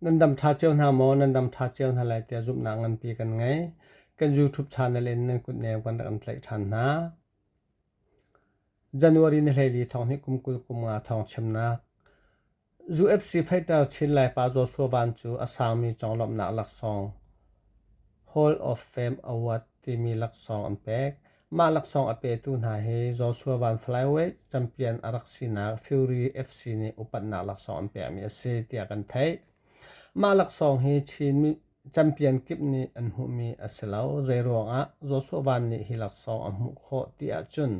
Nan dam ṭha cio hna maw? Nan dam ṭha cio hna lai tiah zumhnak nganpi kan ngei. Kan YouTube channel in nan kutneu kan rak in tlaih ṭhan hna. January ni hleili thawng hi kum kul kum nga thawng chimnak. UFC fighter Chin Laipa Joshua Van cu a sangmi conglawmhnak laksawng Hall of Fame Award timi laksawng an pek. Mah laksawng a petu hna hi Joshua Van Flyweight champion a rak sinak Fury FC nih upatnak laksawng an pekmi a si tiah kan theih. Mah laksawng hi Chin champion kip nih an hmuhmi a si lo. Zeiruangah Joshua Van nih hi laksawng a hmuh khawh ti ahcun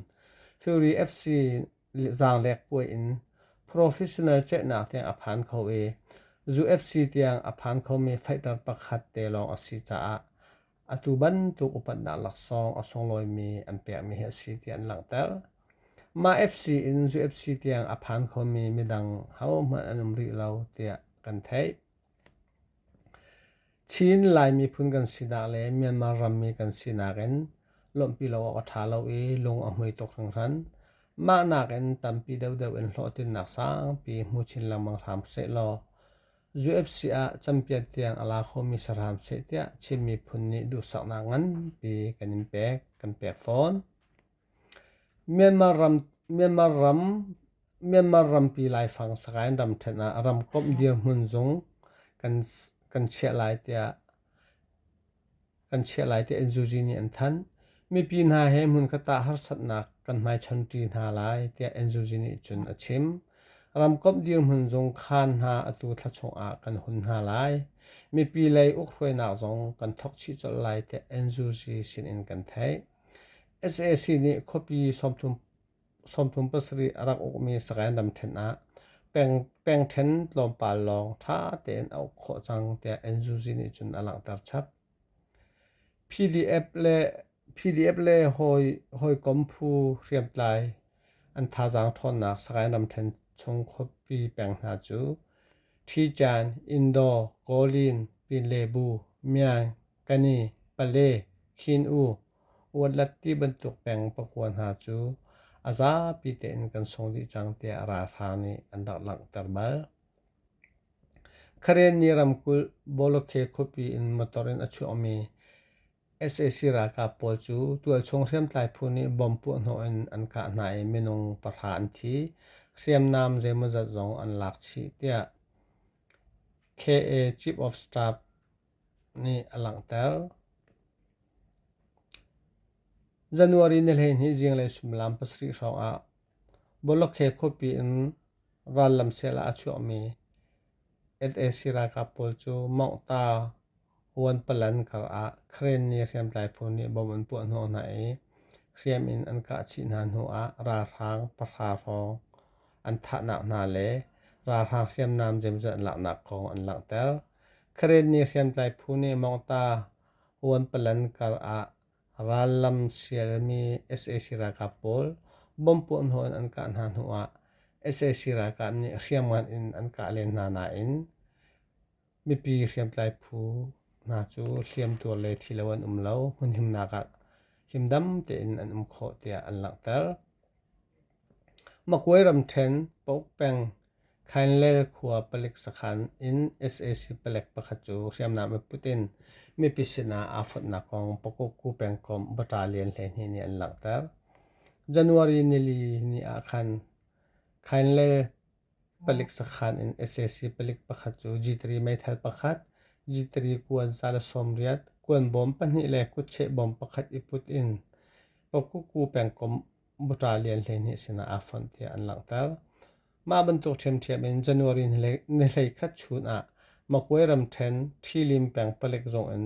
Fury FC zaanglek puai in professional ceihnak tiang a phan kho i UFC tiang a phan khomi fighter pakhat te lawng a si caah Atu bantuk upatnak laksawng a sunglawimi an pekmi hi a si ti an langhter. Mah FC in zu FC tiang a phan khomi midang hohmanh an um rih lo tiah kan theih. Chin Lai miphun kan sinak le Myanmar rammi kan sinak in lawmhpi lo awk a ṭha lo i lung a hmui tuk hringhran. Mah nakin tampi deuhdeuh in hlawhtlinnak sangpi hmu chin lengmang hram sehlaw UFC ah campion tiang a la khomi saram seh tiah Chin miphun nih duhsaknak nganpi kan in pek kan pek fawn. Myanmar ram Myanmar ram Myanmar rampi laifang sakain ram ṭhen ah ramkomh dirhmun zung kan kan chiah lai tiah kan chiah lai tiah Nzuzi nih an thanh. Mipi hna he hmunkhat ah harsatnak kan hmaichonṭi hna lai tiah Nzuzi nih cun a chim. Ramkomh dirhmun zung khaan hna atu thlachung ah kan hun hna lai. Mipi lei ukhruainak zong kan thok chih colh lai tiah Nzuzi sinin kan theih. SAC nih khuapi sawmthum sawmthum pasarih a rak ukmi sakainram ṭhen ah peng ṭhen tlawmpal lawng ṭha tein a uk khawh cang tiah Nzuzi nih cun a langhter chap. PDF le PDF le hawikom phu hriamtlai an thazaang ṭhawnnak sakainram ṭhen chung khuapi peng hna cu Ṭhiṭan, Indo, Kawlin, Pinlebu, Myaing, Kani, pale, khin-u, uatlat ti bantuk peng pakua hna cu a zapi tein kan sung dih cang tiah ralhrang nih an rak langhter bal. Khareni ramkulh Bolokhe khuapi in motor in a chuahmi sac ralkap pawl cu tualchung hriamtlai phu nih bom puahhnawh in an kah hna i minung pahra an thi, hriamnam zeimawzat zong an lak chih tiah KA Chief of Staff nih a langhter. January ni hleihnih zinglei suimilam pasarih hrawngah Bolokhe khuapi in rallam sel ah a chuahmi sac ralkap pawl cu Mongta Huanpalan kar ah Karen ni hriamtlai phu nih bom an puah hnawh hna i hriam in an kah chih hna hnuah ralhrang pahra hrawng an thahnak hna le ralhrang hriamnam zemzet laknak kong an langhter. Karen nih hriamtlai phu nih Mawngta Uanpalan kar ah rallam sialmi sac ralkap pawl bom puah hnawh in an kah hna hnu ah sac ralkap nih hriamngan in an kah len hna nain mipi hriamtlai phu hna cu hliamtuar le thi lo an um lo hmunhimnak ah himdam tein an um khawh tiah an langhter. Makwe ramṭhen Pok peng Khainlel khua palik sakhan in sac palek pakhat cu hriamnam i put in mipi sinah aa fonhnak kong Pokokku pengkomh Bata Lian hleihnih nih an langhter. January nili ni ah khan Khainlel palik sakhan in sac palik pakhat cu G3 meithal pakhat, G3 kuan sale sawmriat, kuan bawm pahnih le kutcheh bawm pakhat i put in Pokokku pengkomh buṭa lian hleihnih sinah aa fonh tiah an langhter. Mah bantuk ṭhiamṭhiam in January nihlei khat chun ah Magway ramṭhen Ṭhilim peng palek zung in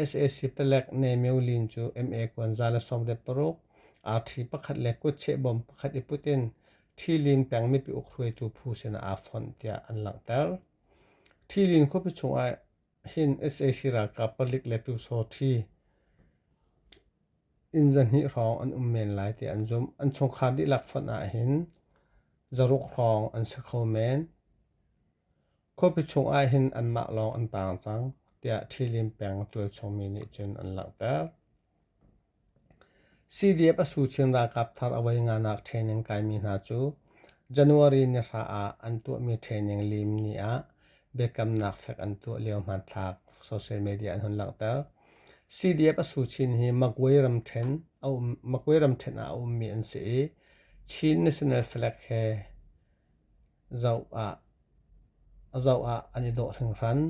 sac palek Ne Myo Lin cu MA kuanza le sawm le paruk, arṭhi pakhat le kutcheh bom pakhat i put in Ṭhilim peng mipi ukhruaitu phu sinah aa fonh tiah an langhter. Ṭhilim khuapi chung ah Hin sac ralkap palik le pyusawh ṭhi inn zahnih hrawng an um men lai tiah an zumh. An chungkhar dihlak fonh ahhin zaruk hrawng an si kho men. Khuapi chung ahhin anmah lawng an taang cang, tiah Ṭhi Lin peng tualchung mi nih cun an langhter. CDF a su Chin ralkap thar a wei nganak training kaimi hna cu January ni hra ah an tuahmi training lim ni ah biakamnak fek an tuah lio hmanthlak social media an hun langhter. CDF a su Chin hi Magway ram ṭhen a um Magway ram ṭhen ah a ummi an si i Chin national flag he Zoh ah an i dawh hringhran.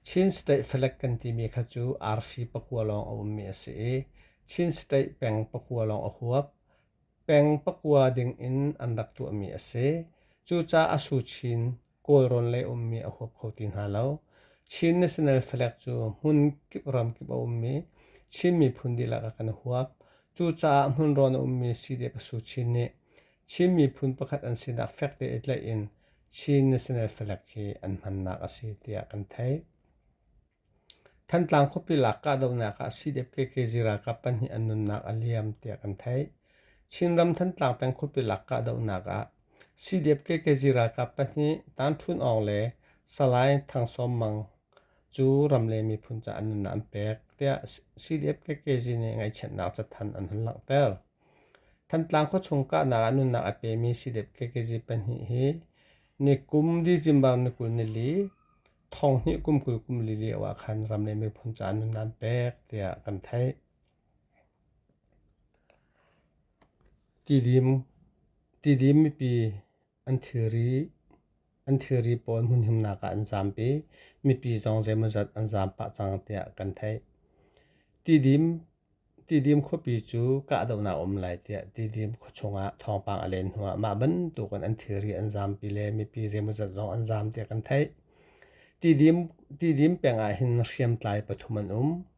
Chin State Falek kan timi kha cu arfi pakua lawng a ummi a si i Chin State peng pakua lawng a huap. Peng pakua ding in an rak tuahmi a si. Cucaah a suchin Kawlrawn lei ummi a huap kho ti hna lo. Chin National Falek cu hmun kip ramkip a ummi Chin miphun dihlak ah kan huap. Cucaah hmunrawn a ummi Sidek a suchin nih Chin miphun pakhat an sinak fek te i tlaih in Chin National Flag hi an hmannak a si tiah kan theih. Thantlang khuapi lak kahdohnak ah CDF KK ralkap pahnih an nunnak a liam tiah kan theih. Chinram Thantlang peng khuapi lak kahdohnak ah CDF KK ralkap pahnih Tanṭhun Awng le Salai Thang Sawm Mang cu ramleng miphun caah nunnak an pek tiah CDF KK nih ngaihchiatnak cathanh an hun langhter. Thantlang khuachung kahnak ah nunnak a pemi sidep kekezi pahnih hi nikum December ni kul nili thonghnih kum kul kum li lio ah khan ram le miphun caah nunnak an pek tiah kan theih. Tidim, tidim mipi An thilri pawl hmunhimnak ah an zaam i mipi zong zeimawzat an zaam pah cang tiah kan theih. Tidim khuapi cu kahdohnak a um lai tiah Tidim khuachung ah thawngpang a len hnuah mah bantuk in an thilri an zaampi le mipi zeimawzat zong an zaam tiah kan theih. Tidim peng ah hin hriamtlai pathum an um.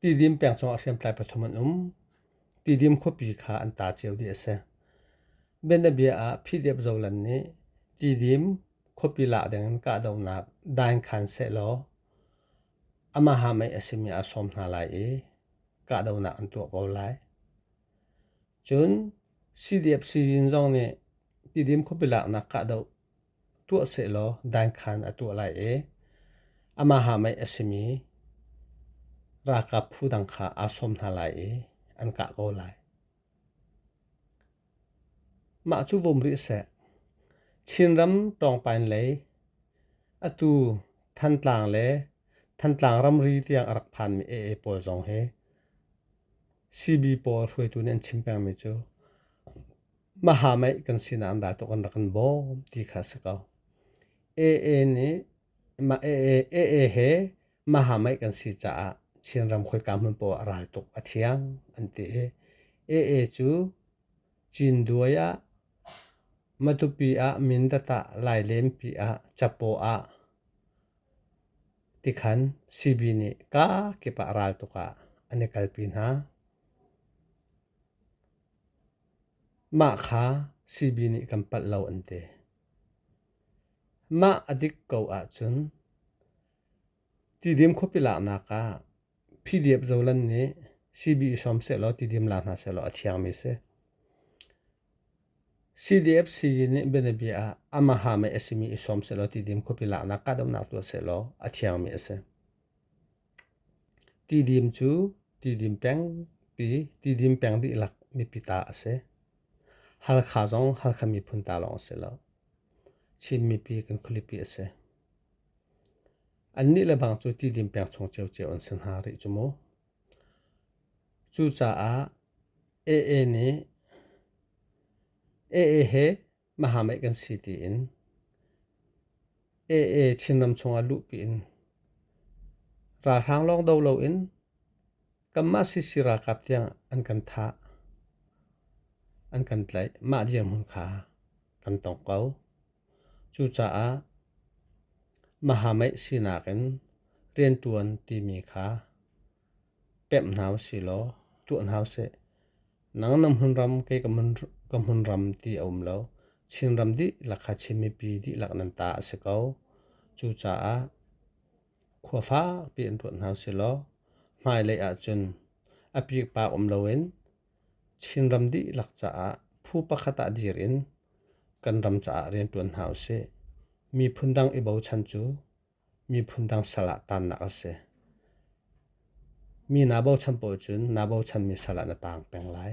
Tidim peng chungah hriamtlai pathum an um. Tidim khuapi kha an ta cio dih a si. Bianabia ah PDF Zoland nih Tidim khuapi lak dingin kahdohnak dain khan sehlaw amaha mei a simi aa sawm hna lai i kahdohnak an tuah ko lai. Cun CDF sizin zong nih Tidim khuapi laknak kahdoh tuah sehlaw dankhan a tuah lai i amaha mei a simi ralkap phu dang kha aa sawm hna lai i an kah ko lai. Mah cu vom rih seh. Chinram tawngpain lei atu Thantlang le Thantlang ramri tiang a rak phanmi AA pawl zong hi Sihni pawl hruaitu nih an chim pengmi cu mahameih kan sinak an ral tuk an rak in bawm ti kha a si ko. AA nih mah AA, AA he mahameih kan si caah Chin ram khoika hmun paoh ah ral tuk a thiang an ti i AA cu Cinduai ah, Matupi ah, Mindat ah, Lailenpi ah, Capaw ah, Tikhan CB nih ka kip ah ral tuk ah an i kalpi hna. Mah kha CB nih kan palh lo an ti. Mah a dik ko ahcun tidim khuapi laknak ah Phi-diep zolan nih CBE som sehlaw ti diam la hna sehlaw a thiangmi si. CDF sii nih bianabia ah amaha mei a simi i som sehlaw ti dim khuapi laknak kahdohnak tuah sehlaw a thiangmi a si. Ti dim cu ti dim pengpi ti dim peng dihlak mipi ta a si. Halkha zong halkha miphun ta lawng a si lo. Chin mipi kan khulipi a si. Annih le bang cu tidin peng chung ciocio an si hna rih cu mu. Cucaah AA nih AA he mahameih kan si tiin AA Chinram chungah luhpi in ralhrang lawng do loin kanmah sisi ralkap tiang an kan thah an kan tlaih mah dirhmun kha kan tong ko. Cucaah Mahameih sinak in rianṭuan timi kha pemh hna u sih law tuah hna u sih. Nang na hmunram kei ka hmunram ti a um lo. Chinram dihlak kha Chin mipi dihlak nan ta a si ko. Cucaah khua fakpi in ruat hna u sih law hmailei ahcun a piikpaak um loin Chinram dihlak caah phu pakhat ah dir in kan ram caah rianṭuan hna u sih. Miphun dang i bochan cu miphun dang sal ah taannak a si. Mi naa bochan paoh cun naa bochanmi sal ah na taang peng lai.